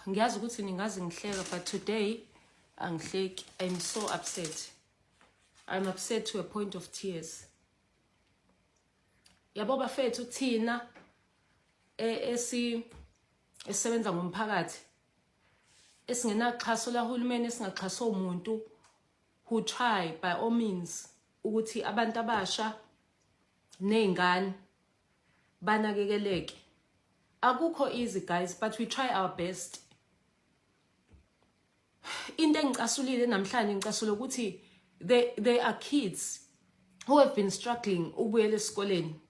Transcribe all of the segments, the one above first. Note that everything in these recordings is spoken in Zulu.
ngiyazi ukuthi ningazi ngihleka but today angihleki i'm so upset i'm upset to a point of tears yabo bafethu thina e, esi esisebenza ngomphakathi esingenaxhaso lahulumeni esingaxhaso umuntu who try by all means ukuthi abantu abasha nezingane banakekeleke akukho easy guys but we try our best into engicasulile namhlanje ngicasula ukuthi they, they are kids who have been struggling ukubuyela esikoleni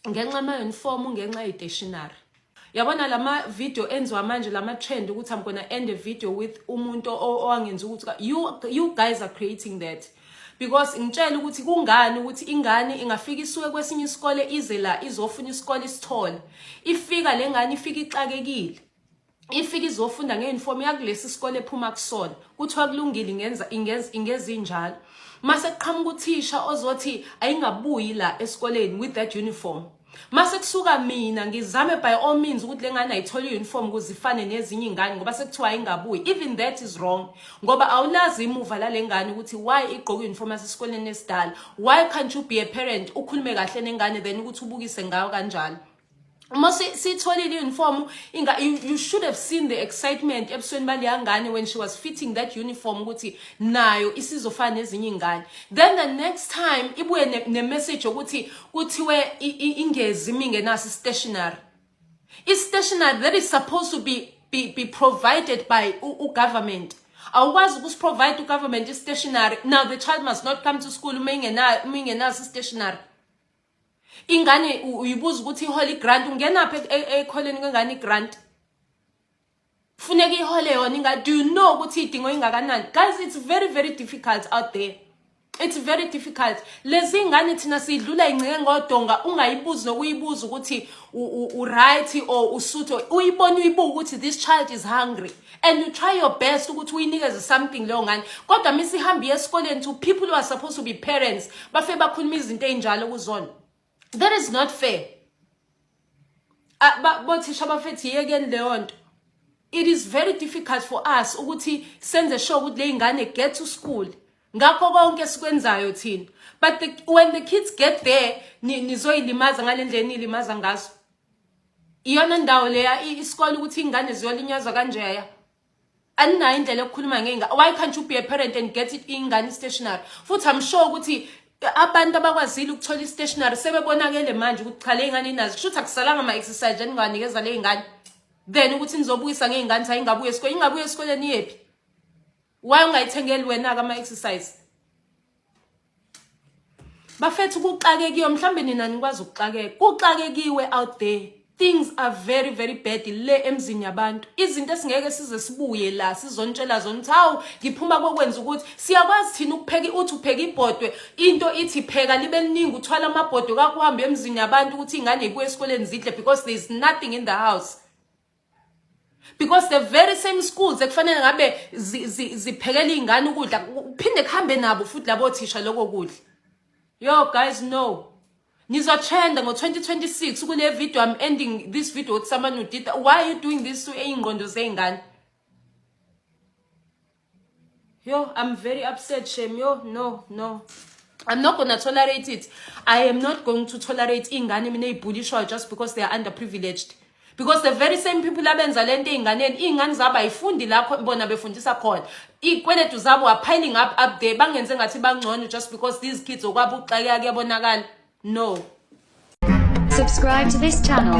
ngenxa ama-uniform ngenxa ye-stationary yabona lama video enziwa manje lama trend ukuthi i'm gonna end a video with umuntu owangenza ukuthi you you guys are creating that because ngitshela ukuthi kungani ukuthi ingane ingafika isuke kwesinye isikole ize la izofuna isikole isithole ifika le ngane ifika ixakekile ifika izofunda ngeuniform yakulesi sikole ephuma kusona kuthiwa kulungile ingenza ingenza ingezinjalo mase kuqhamuka uthisha ozothi ayingabuyi la esikoleni with that uniform mase kusuka mina ngizame by all means ukuthi lengane ayithole iuniform kuzifane nezinye ingane ngoba sekuthiwa ayingabuyi even that is wrong ngoba awulazi imuva lalengane ukuthi why igqoka uniform yasesikoleni esidala why can't you be a parent ukhulume kahle nengane then ukuthi ubukise ngayo kanjalo uma sitholile uniform inga you should have seen the excitement ebusweni baleyangane when she was fitting that uniform ukuthi nayo isizofana nezinye ingane then the next time ibuye ne, ne message ukuthi kuthiwe ingezi imi ngenaso i-stationary i-stationary that is supposed to be, be, be provided by ugovernment awukwazi ukusiprovide ugovernment i-stationary now the child must not come to school uma ingenaso i-stationary ingane uyibuza ukuthi ihole i-grant ungenaphi e-, e-, ekholeni kwengane i-grant funeka ihole yona inga do you know ukuthi idingo ingakanani guys it's very very difficult out there it's very difficult lezi ngane thina sidlula ingceke ngodonga ungayibuzi nokuyibuza ukuthi uright or usuthe uyibona uyibuka ukuthi this child is hungry and you try your best ukuthi uyinikeze something leyo ngane kodwa misihambi esikoleni to people who are supposed to be parents bafe bakhuluma izinto ezinjalo kuzona that is not fair ah, bothisha abafethi yekeni leyo nto it is very difficult for us ukuthi senze sure ukuthi ley'ngane get to school ngakho konke esikwenzayo thina but the, when the kids get there nizoyilimaza ngale ndlela niyilimaza ngazo iyona ndawo leya isikole ukuthi iy'ngane ziyolinyazwa kanjeya aninayo indlela yokukhuluma ngey'ngane why can't you be a parent and get it iy'ngane i-stationary futhi i'm sure ukuthi abantu abakwazile ukuthola i-stationary sebebonakele manje ukuthi cha le y'ngane inazo kusho ukuthi akusalanga ama-exercise eningawanikeza le y'ngane then ukuthi nizobuyisa ngey'ngane ukuthi ayingabuye esikoleni ingabuye esikoleni iyephi why ungayithengeli wena-ke ama-exercise bafethu kuxakekiwe mhlawumbe nina nikwazi ukuxakeka kuxakekiwe out there things are very very bad le emzini yabantu izinto esingeke size sibuye la sizontshela zona ukuthi hawu ngiphuma kokwenza ukuthi siyakwazi thina ukupheka uthi upheka ibhodwe into ithi pheka libe liningi uthwala amabhodwe kakuhambe emzini yabantu ukuthi ingane ibuye esikoleni zidle because there is nothing in the house because the very same schools ekufanele ngabe ziphekela iy'ngane ukudla kuphinde kuhambe nabo futhi labo thisha loko kudla yo guys no nizotrenda ngo-2026 kule video i'm ending this video with someone who did that. why are you doing this to iy'ngqondo zey'ngane Yo, I'm very upset, Shem. Yo, no, no. I'm not gonna tolerate it. I am not going to tolerate ingane mina ibhulishwayo just because they are underprivileged. Because the very same people abenza lento einganeni, ingane zabo ayifundi lapho bona befundisa khona. Ikweletu zabo are piling up up there bangenze ngathi bangcono just because these kids okwabo uxakeka kuyabonakala. No. Subscribe to this channel.